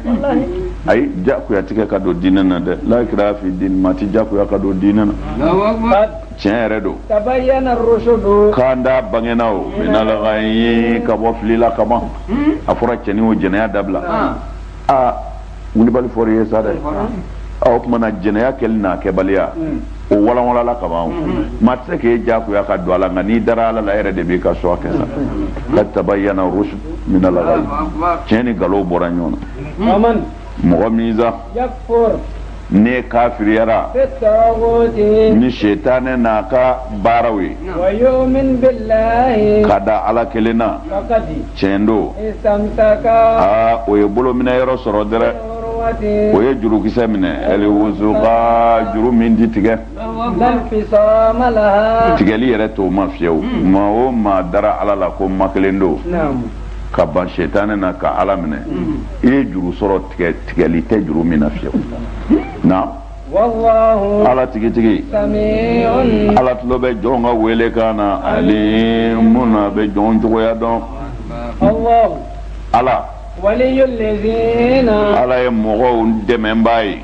ayi jagoya ti kɛ ka don diinɛ na dɛ la ikraha fi dini maa ti jagoya ka don diinɛ na tiɲɛ yɛrɛ don tabayyana rushudu kanda bangena o minal ghayyi ka bɔ fili la ka ban a fɔra cɛnin wo jɛnɛya dabila a wulibali fɔra i ye sa dɛ o tuma na jɛnɛya kɛli n'a kɛbaliya o walanwalala ka ban maa tɛ se k'e diyagoya ka don a la nka n'i dara ala la e yɛrɛ de b'i ka choix kɛ sa qad tabayyana rushudu minal ghayyi tiɲɛ ni nkalon bɔra ɲɔgɔn na mɔgɔ min sa ne kafiriyara ni sitanɛ n'a ka baaraw ye ka da ala kelen na tiɲɛ don aa o ye bolo minɛ yɔrɔ sɔrɔ dɛrɛ o ye jurukisɛ minɛ ɛliwusuka juru min ti tigɛ tigɛli yɛrɛ t'o ma fiyewu maa o maa dara ala la ko ma kelen don ka ban sɛtanɛ na ka ala minɛ i ye juru sɔrɔ tigɛli tɛ juru min na fiyewu na ala tigitigi ala tulo bɛ jɔn ka welekan na alimun a bɛ jɔn cogoya dɔn ala ala ye mɔgɔw dɛmɛbaa ye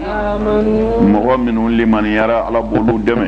mɔgɔ minnu limaniyara ala b'olu dɛmɛ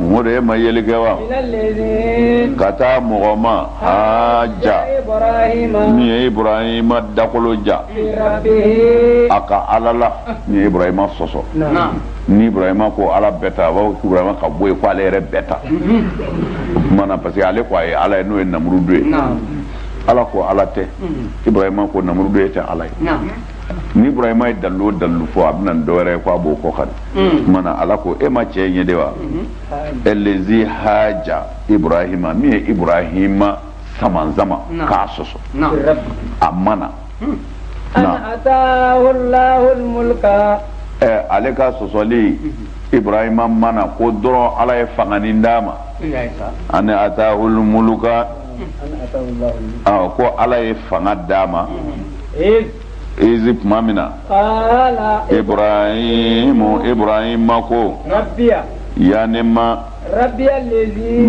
Mori de e ma yeli kɛ wa ka taa mɔgɔ ma haja min ye ibrahima dakolo ja a ka ala la min ye ibrahima sɔsɔ ni ibrahima ko ala bɛ tan wa ibrahima ka bɔ yen k' ale yɛrɛ bɛ tan mana parce que ale k' a ye ala ye n'o ye namurudu ye ala ko ala tɛ ibrahima ko namurudu e tɛ ala ye ni ibrahima ye dalilu o dalilu fɔ a bɛ na ni dɔwɛrɛ ye k' a b'o kɔ ka tuma na mm. ala ko e ma cɛ in ye de wa elezi haja ibrahima min ye ibrahima samanzama k'a sɔsɔ a ma na mm. ale ka sɔsɔli ibrahima ma na ko dɔrɔn ala ye fanganin d'a ma an atahul muluka ko ala ye fanga d'a ma mm. Ezi tuma min na ibrahim ibrahima ko rabbiya ne ma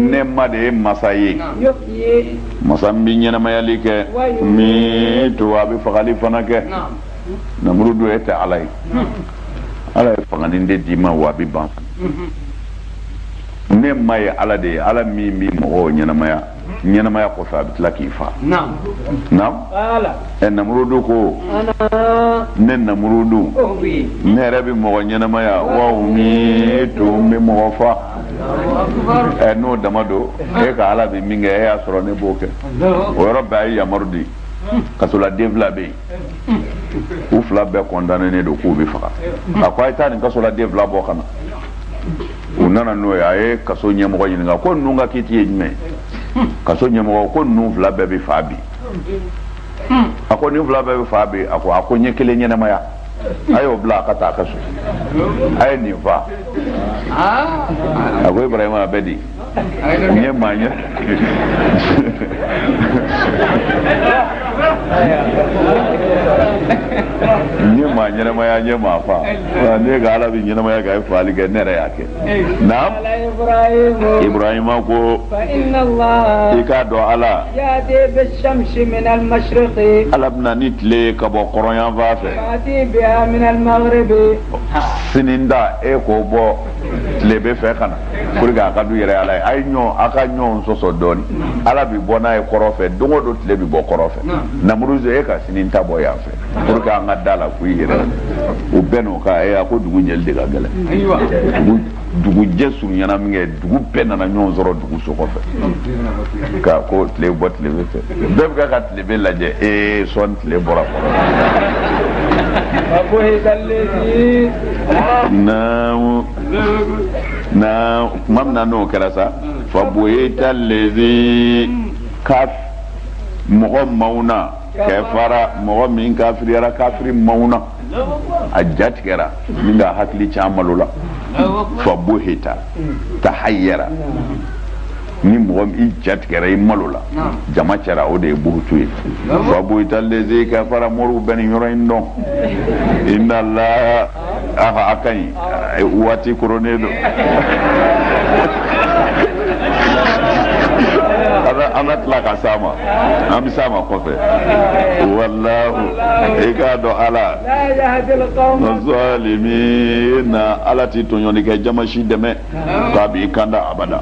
ne ma de ye masa ye masa min bɛ ɲɛnamayali kɛ yumitu wa a bɛ fagali fana kɛ namurudu e tɛ ala ye ala ye fanganin de d'i ma wa a bɛ ban ne ma ye ala de ye ala min bɛ mɔgɔw ɲɛnamaya ɲɛnamaya kɔfɛ a bɛ tila k'i faa naamu ɛ namurudu ko ne namurudu ne yɛrɛ bɛ mɔgɔ ɲɛnamaya wa umitu n bɛ mɔgɔ faa ɛ n'o dama don e ka ala bɛ min kɛ e y'a sɔrɔ ne b'o kɛ o yɔrɔ bɛɛ a ye yamaru di kasoladen fila bɛ yen u fila bɛɛ condamnénen don k'u bɛ faga a ko a ye taa nin kasoladen fila bɔ ka na u nana n'o ye a ye kaso ɲɛmɔgɔ ɲininka ko ninnu ka kiti ye jumɛn kaso ɲɛmɔgɔ ko ninnu fila bɛɛ bɛ faa bi a ko nin fila bɛɛ bɛ faa bi a ko a ko n ye kelen ɲɛnamaya a y'o bila a ka taa a ka so a ye nin faa a ko ibrahima a bɛ di n ye maa ɲɛ n ye maa ɲɛnamaya n ye maa faa n'e ka ala bɛ ɲɛnamaya ka faali kɛ ne yɛrɛ y'a kɛ naamu ibrahima ko i k'a dɔn ala ala bɛ na ni tile ye ka bɔ kɔrɔnyanfan fɛ sini ta e k'o bɔ tilebin fɛ ka na pour que a k'a dɔn yɛrɛ ala ye a ye ɲɔgɔn a ka ɲɔgɔn sɔsɔ dɔɔni ala bi bɔ n'a ye kɔrɔn fɛ don o don tile bi bɔ kɔrɔn fɛ namuruzu e ka sini ta bɔ yan fɛ pour que an ka da a la ko i yɛrɛ u bɛɛ n'o ka e a ko dugu jɛli de ka gɛlɛn dugujɛ surunyana minkɛ dugu bɛɛ nana ɲɔgɔn sɔrɔ dugu sokɔfɛ ka ko tile bɔ tilebin fɛ bɛɛ bɛ ka ka tile bin lajɛ ee sɔɔni tile bɔra kɔrɔn. naamu na tuma min na n'o kɛra sa fabuhita lazi kaf mɔgɔ mawuna kafara mɔgɔ min kafiriyara kafiri mawuna a jatigɛra minkɛ a hakili can malola fabuhita tahayara ni mɔgɔ min jatigɛra i malola jama cɛ ra o de ye buhutu ye fabuhita lazi kafara moriw bɛ nin yɔrɔ in dɔn inna alaha a ka ɲi waati koronnen don an na tila ka s'a ma an bɛ s'a ma kɔfɛ walahu i k'a dɔn ala zalimina ala tɛ tɔɲɔnikɛ jama si dɛmɛ k'a b'i kanda abada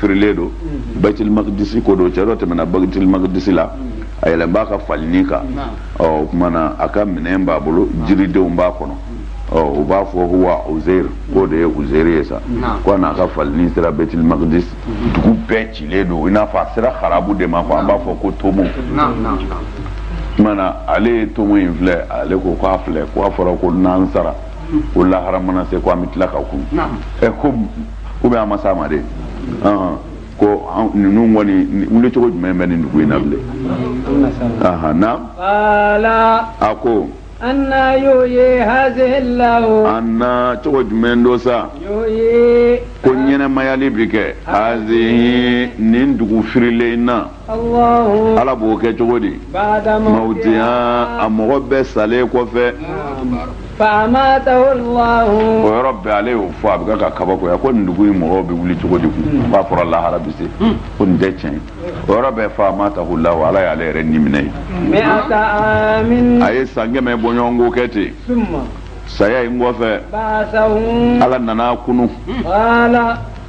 firilen don bayitilimaqdisi ko don cɛ dɔ tɛmɛna bayitilimaqdisi la a yɛlɛnnen b'a ka falini kan ɔ o tuma na a ka minɛn b'a bolo jiridenw b'a kɔnɔ ɔ u b'a fɔ ko huwa uzeir k'o de ye uzeir ye sa ko a n'a ka falini sera bayitilimaqdisi dugu bɛɛ cilen don i n'a fɔ a sera harabu de ma quoi an b'a fɔ ko tomo o tuma na ale ye tomo in filɛ ale ko k'a filɛ ko a fɔra ko n'an sara ko lahara mana se ko an bɛ tila ka kunun ɛ ko u bɛ a ma sa ma de ko ninnu kɔni wuli cogo jumɛn bɛ nin dugu in na bilen naam a ko anna yuhyi hazihi lahu anna cogo jumɛn don sa ko ɲɛnɛmayali bɛ kɛ hazihi nin dugu firilen in na ala b'o kɛ cogo di ba'da mawtiha a mɔgɔ bɛɛ salen kɔfɛ o yɔrɔ bɛɛ ale y'o fɔ a bɛ ka kabakoya ko nin dugu in mɔgɔw bɛ wuli cogo di kun k'a fɔra lahara bi se ko nin tɛ tiɲɛ o yɔrɔ bɛɛ fa amatahu lahu ala y'ale yɛrɛ ni minɛ ye a ye san kɛmɛ bɔɲɔgɔnko kɛ ten saya in kɔfɛ ala nan'a kunun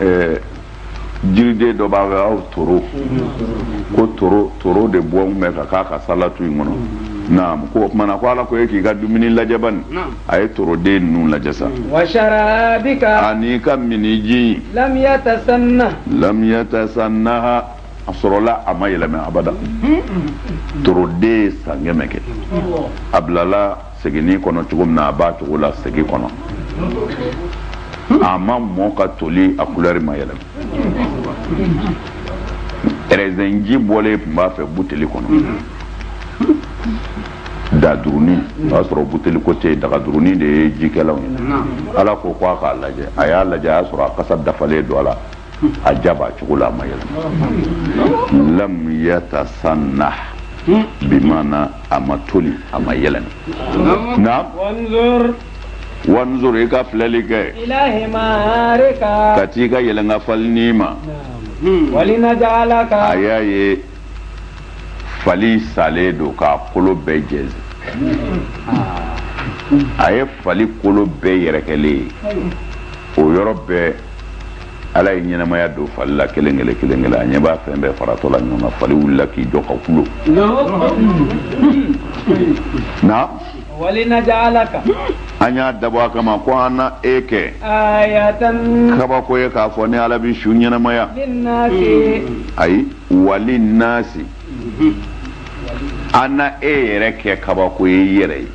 ɛɛ jiriden dɔ b'a fɛ a tɔgɔ ko toro toro de bɔlen bɛ ka k'a ka salatu in kɔnɔ naam ko o tuma na ko ala ko e k'i ka dumuni lajɛ bani a ye toroden ninnu lajɛ sa washarabika ani ka miniji in lam yatasanna lam yatasannaha a sɔrɔla a ma yɛlɛmɛ abada toroden ye san kɛmɛ kɛ a bilala seginin kɔnɔ cogo min na a b'a cogo la segi kɔnɔ a ma mɔ ka toli a kulɛri ma yɛlɛma rɛzɛnji bɔlen tun b'a fɛ buteli kɔnɔ daduruni o y'a sɔrɔ buteli ko tɛ yen dagaduruni de ye jikɛlaw ye ala ko ko a k'a lajɛ a y'a lajɛ a y'a sɔrɔ a kasa dafalen don a la a ja b'a cogo la a ma yɛlɛma lam yatasanna bi maana a ma toli a ma yɛlɛma naam wanzur i ka filɛli kɛ ka t'i ka yɛlɛnkan falinin ma a y'a ye fali salen don k'a kolo bɛɛ jɛnsɛn a ye fali kolo bɛɛ yɛrɛkɛlen ye o yɔrɔ bɛɛ ala ye ɲɛnamaya don fali la kelen kelen kelen kelen a ɲɛ b'a fɛn bɛɛ faratɔ la ɲɔgɔn na fali wulila k'i jɔ ka kulo naam walinajaalaka an y'a dabɔ a kama ko an na e kɛ ayatan kabako ye k'a fɔ ni ala bɛ su ɲɛnamaya linnaasi ayi wali naasi an na e yɛrɛ kɛ kabako ye i yɛrɛ ye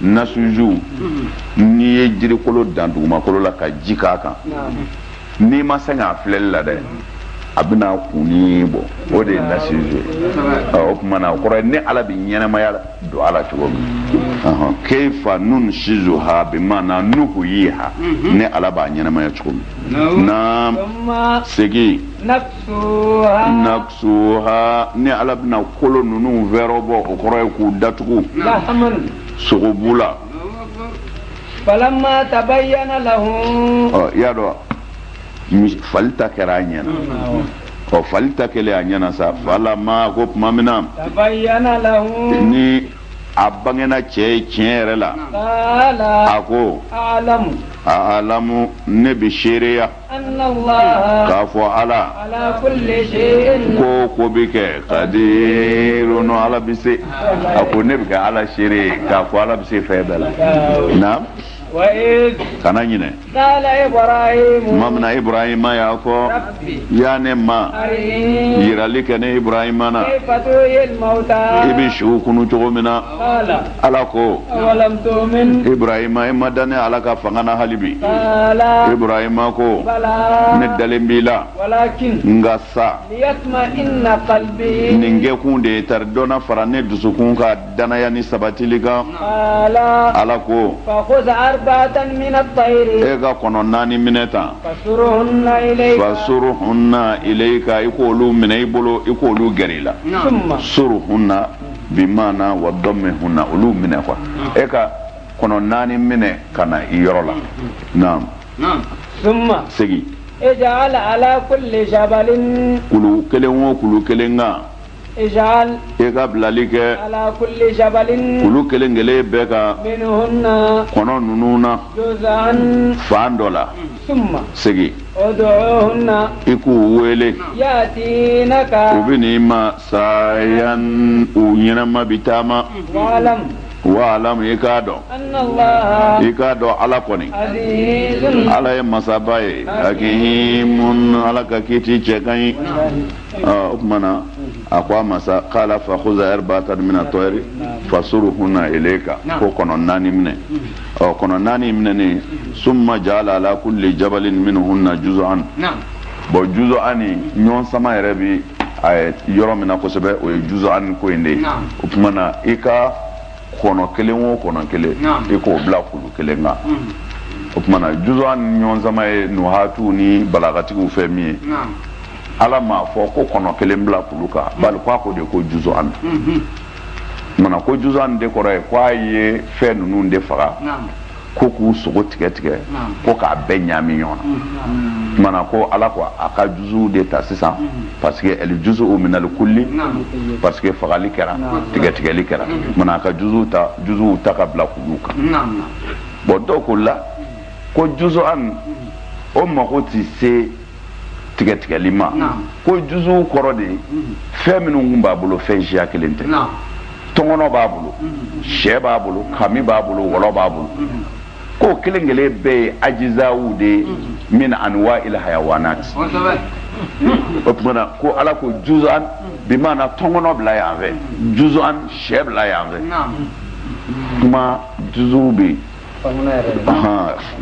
nasuju n'i ye jirikolo dan dugumakolo la ka ji k'a kan n'i ma sɛgɛn a filɛli la dɛ a bɛna kunni bɔ o de ye nasuju ye o tuma na o kɔrɔ ye ne ala bɛ ɲɛnɛmaya don a la cogo min keifa nunsizuha bi maana nuhuyiha ne ala b'a ɲɛnɛmaya cogo min na segin Naksuha ne ala bɛna kolo ninnu fɛɛrɛbɔ o kɔrɔ ye k'u datugu sogobu la falamma tabayyana lahu i y'a dɔn fali ta kɛra a ɲɛana ɔ fali ta kɛlen a ɲɛana sa falamma ko tuma min na ni a bangena cɛ ye tiɲɛ yɛrɛ la a ko a'lamu ne bɛ seereya k'a fɔ ala ko ko bɛɛ kɛ kadirun ala bɛ se a ko ne bɛ kɛ ala seere ye k'a fɔ ala bɛ se fɛn bɛɛ la na kana ɲinɛ tuma min na ibrahima y'a fɔ ya ne ma yirali kɛ ne ibrahima na i bɛ suw kunu cogo min na ala ko ibrahima i ma da ne ala ka fanga na hali bi ibrahima ko ne dalen b'i la nka sa nin kɛkun de ye tari dɔ na fara ne dusukun ka danaya ni sabatili kan ala ko e ka kɔnɔ naani minɛ tan fasuruhunna ilayika i k'olu minɛ i bolo i k'olu gɛrɛ i la suruhunna bi maana wa dummihunna olu minɛ ko e ka kɔnɔ naani minɛ ka na i yɔrɔ la naam summa segi ija'al ala kulli jabalin kulu kelen o kulu kelen kan ija'al e ka bilali kɛ ala kulli jabalin kulu kelen kelen bɛɛ kan minhunna kɔnɔ ninnu na juz'an fan dɔ la summa segi ud'uhunna i k'u wele yatinaka u bɛ n'i ma sayan u ɲɛnama bi taama wa'lam i k'a dɔn i k'a dɔn ala kɔni ala ye masaba ye hakimun ala ka kiti cɛ ka ɲi o tuma na a ko a ma sa kala fakhuz arba'atan mina tayri fasuruhunna ilayika ko kɔnɔ naani minɛ ɔ kɔnɔ naani minɛnen summa ija'al ala kulli jabalin minhunna juz'an bon juz'an ɲɔgɔn sama yɛrɛ bi a yɔrɔ min na kosɛbɛ o ye juz'an ko in de ye o tuma na i ka kɔnɔ kelen o kɔnɔ kelen i k'o bila kulu kelen kan mm-hmm. o tuma na juz'an ɲɔgɔn sama ye nuhatiw ni balagatigiw fɛ min ye ala m'a fɔ ko kɔnɔ kelen bila kulu kan mm-hmm. bali ko a ko de ko juz'an mm-hmm. mana ko juz'an de kɔrɔ ye ko a ye fɛn ninnu de faga ko k'u sogo tigɛ tigɛ ko k'a bɛɛ ɲami ɲɔgɔn na mana ko ala ko a ka juzuw de ta sisan parce que aljuz'u minal kulli parce que fagali kɛra tigɛtigɛli kɛra mana a ka ju juzuw ta ka bila kuluw kan bon dɔw ko la ko juz'an o mako tɛ se tigɛtigɛli ma ko juzu kɔrɔ de ye fɛn minnu tun b'a bolo fɛn siya kelen tɛ tɔngɔnɔ b'a bolo sɛ b'a bolo kami b'a bolo wɔlɔ b'a bolo k'o kelen kelen bɛɛ ye ajizaw de ye min anwa il hayawanat o tuma na ko ala ko juzan bi maana tɔngɔnɔ bila yan fɛ juzan sɛ bila yan fɛ kuma juzu bɛ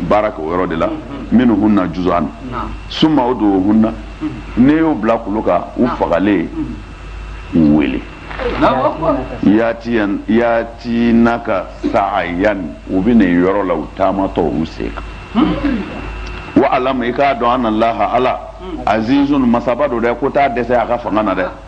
baara kɛ o yɔrɔ de la minhunna juzan suma udu hunna n'e y'u bila kulu kan u fagalen u wele yatinaka saayan u bɛ n'e yɔrɔ la u taamatɔ u sen kan wa alam i k'a dɔn anna laha ala azizun masaba don dɛ ko t'a dɛsɛ a ka fanga na dɛ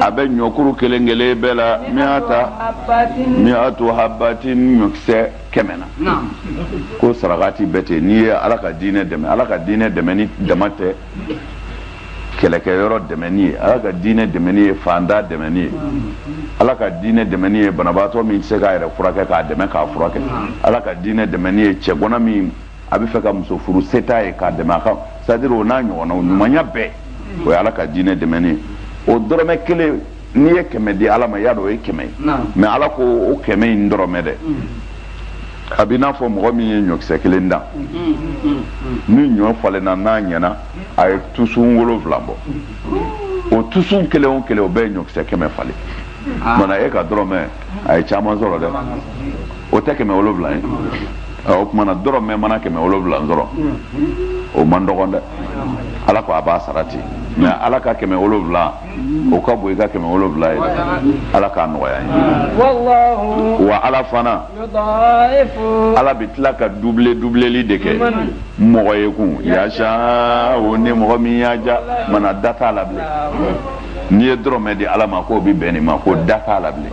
a bɛ ɲɔkuru kelen kelen bɛɛ la miyatu habatin ɲɔkisɛ kɛmɛ na ko sarakati bɛɛ ten n'i ye ala ka diinɛ dɛmɛ ala ka diinɛ dɛmɛni dama tɛ kɛlɛkɛyɔrɔ dɛmɛni ye ala ka diinɛ dɛmɛni ye fanda dɛmɛni ye ala ka diinɛ dɛmɛni ye banabaatɔ min tɛ se k'a yɛrɛ furakɛ k'a dɛmɛ k'a furakɛ ala ka diinɛ dɛmɛni ye cɛgana min a bɛ fɛ ka muso furu se t'a ye k'a dɛmɛ a ka c'est à dire o n'a ɲɔgɔnnaw ɲumanya bɛɛ o ye ala ka diinɛ dɛmɛni ye o dɔrɔmɛ kelen n'i ye kɛmɛ di ala ma y'a dɔn o ye kɛmɛ ye mais ala ko o kɛmɛ in dɔrɔmɛ dɛ a b'i n'a fɔ mɔgɔ min ye ɲɔkisɛ kelen dan ni ɲɔ falenna n'a ɲɛna a ye tusun wolonwula bɔ o tusun kelen o kelen o bɛɛ ye ɲɔkisɛ kɛmɛ falen maana e ka dɔrɔmɛ a ye caman sɔrɔ dɛ o tɛ kɛmɛ wolonwula ye o tuma na dɔrɔmɛ mana kɛmɛ wolonwula sɔrɔ o man dɔgɔn dɛ ala ko a b'a sara ten mais ala ka kɛmɛ wolonwula o ka bon i ka kɛmɛ wolonwula ye ala k'a nɔgɔya an ye wa ala fana ala bɛ tila ka dubile dubileli de kɛ mɔgɔ ye kun yasa o ni mɔgɔ min y'a diya maana da t'a la bilen n'i ye dɔrɔmɛ di ala ma k'o bɛ bɛn nin ma ko da t'a la bilen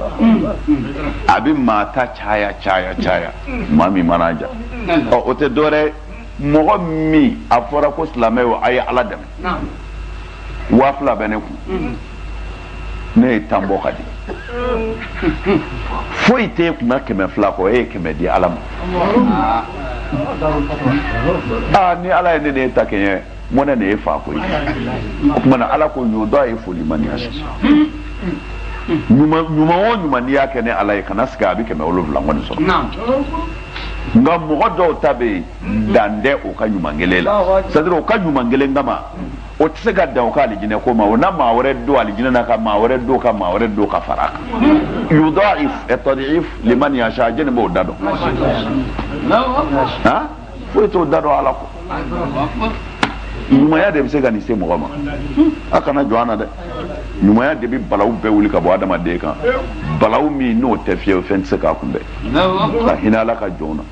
a bɛ maa ta caya caya caya maa min mana diya ɔ o tɛ dɔwɛrɛ mɔgɔ min a fɔra ko silamɛw a ye ala dɛmɛ waa fila bɛ ne kun ne ye tan bɔ ka di foyi t'e kun na kɛmɛ fila kɔ e ye kɛmɛ di ala ma aa ni ala ye ne n'e ta kɛɲɛ mɔnɛ n'e faa koyi o tuma na ala ko yudaifu liman yasa ɲuman o ɲuman n'i y'a kɛ ne ala ye kana siga a bɛ kɛmɛ wolonwula kɔni sɔrɔ nka mɔgɔ dɔw ta bɛ yen dan tɛ o ka ɲuman kelen la c'est à dire o ka ɲuman kelen kama o tɛ se ka dan o ka alijinɛ ko ma o na maa wɛrɛ don alijinɛ na ka maa wɛrɛ don ka maa wɛrɛ don ka fara a kan yudaif attadif liman yasa jɛni b'o da dɔn foyi t'o da dɔn ala ko ɲumanya de bɛ se ka nin se mɔgɔ ma a kana jɔ an na dɛ ɲumanya de bɛ balaw bɛɛ wuli ka bɔ adamaden kan balaw min n'o tɛ fiyewu fɛn tɛ se k'a kunbɛn ka hinɛ ala ka jɔnw na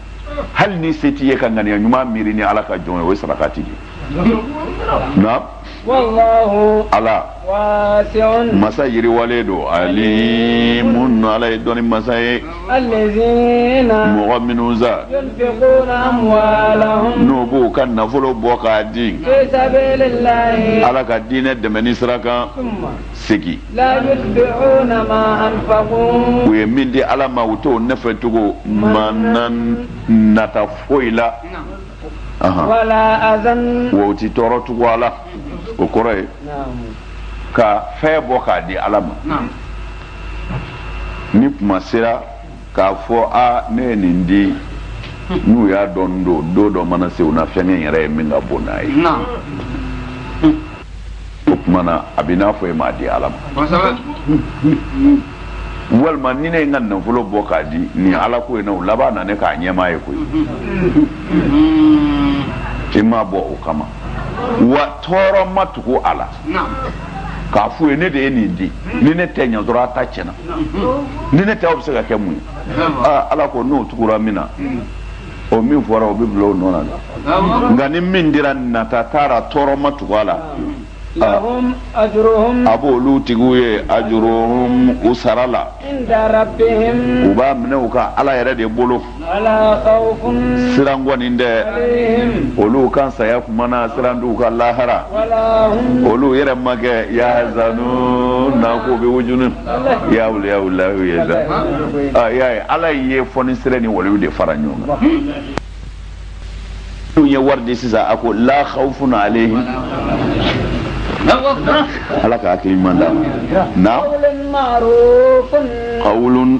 hali ni se t'i ye ka ŋaniya ɲuman miiri ni ala ka jɔn ye o ye sarakati de ye ala masa yiriwalen don alimun ala ye dɔnni masa ye mɔgɔ minnu sa n'u b'u ka nafolo bɔ k'a di ala ka diinɛ dɛmɛni sira kan segin u ye min di ala ma u t'o nɔfɛ tugu manan nata foyi la wa u ti tɔɔrɔ tugu a la o kɔrɔ ye ka fɛn bɔ k'a di ala ma ni kuma sera k'a fɔ a ne ye nin di n'u y'a dɔn don don dɔ mana se u na fɛnkɛ yɛrɛ ye min ka bon n'a ye o tuma na a bɛ n'a fɔ e m'a di ala ma walima ni ne ye n ka nafolo bɔ k'a di nin ala ko in na o laban na ne k'a ɲɛmaa ye koyi e m'a bɔ o kama wa tɔɔrɔ ma tugu a la k'a f'u ye ne de ye nin di ni ne tɛ yen dɔrɔn a ta tiɲɛna ni ne tɛ o bɛ se ka kɛ mun ye ala ko n'o tugura min na o min fɔra o bɛ bila o nɔ na dɛ nka ni min dira nata taara tɔɔrɔ ma tugu a la a b'olu tigiw ye ajuruhum u sara la u b'a minɛ u ka ala yɛrɛ de bolo siran kɔni tɛ olu kan saya kumana siran t'u kan lahara olu yɛrɛ ma kɛ yahzanuna k'u bɛ wujunu ya awliya lahu ya za a y'a ye ala ye fonisire ni waliw de fara ɲɔgɔn kan n'u ye wari di sisan a ko la khawfun alayhim ala ka hakili ɲuman d'an ma naam qawlun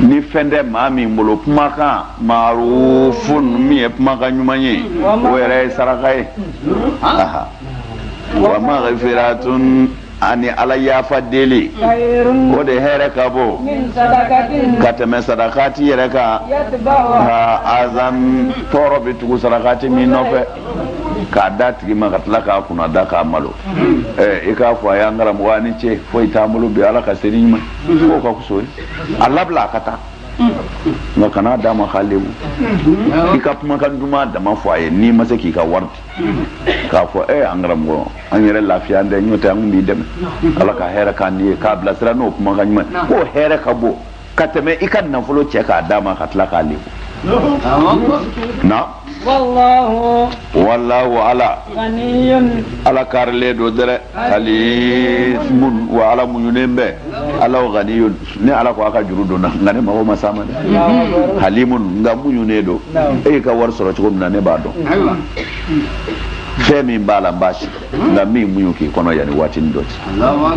ni fɛn tɛ maa min bolo kumakan marufun min ye kumakan ɲuman ye o yɛrɛ ye saraka ye wa maghfiratun ani ala yafa deli o de hɛrɛ ka bon ka tɛmɛ sadakati yɛrɛ kan azan tɔɔrɔ bɛ tugu sadakati min nɔfɛ k'a d'a tigi ma ka tila k'a kunnada k'a malo i k'a fɔ a y'an karamɔgɔ a ni ce foyi t'an bolo bi ala ka sini ɲuman k'o ka kuso ye a labila a ka taa nka kan'a d'a ma k'a lebu i ka kumakan duman dama fɔ a ye n'i ma se k'i ka wari di k'a fɔ e an karamɔgɔ an yɛrɛ lafiyalen tɛ n'o tɛ an kun b'i dɛmɛ ala ka hɛrɛ k'an n'i ye k'a bilasira n'o kumakan ɲuman k'o hɛrɛ ka bon ka tɛmɛ i ka nafolo cɛ k'a d'a ma ka tila k'a lebu na wallahu ala ganiyun ala kaarilen don dɛrɛ halimun wa ala muɲunen bɛ ala ganiyun ne ala ko a ka juru don n na nka ne mago ma s'a ma dɛ halimun nka muɲunen don e y'i ka wari sɔrɔ cogo min na ne b'a dɔn fɛn min b'a la n b'a sidɔn nka n bɛ muɲu k'i kɔnɔ yanni waatinin dɔ cɛ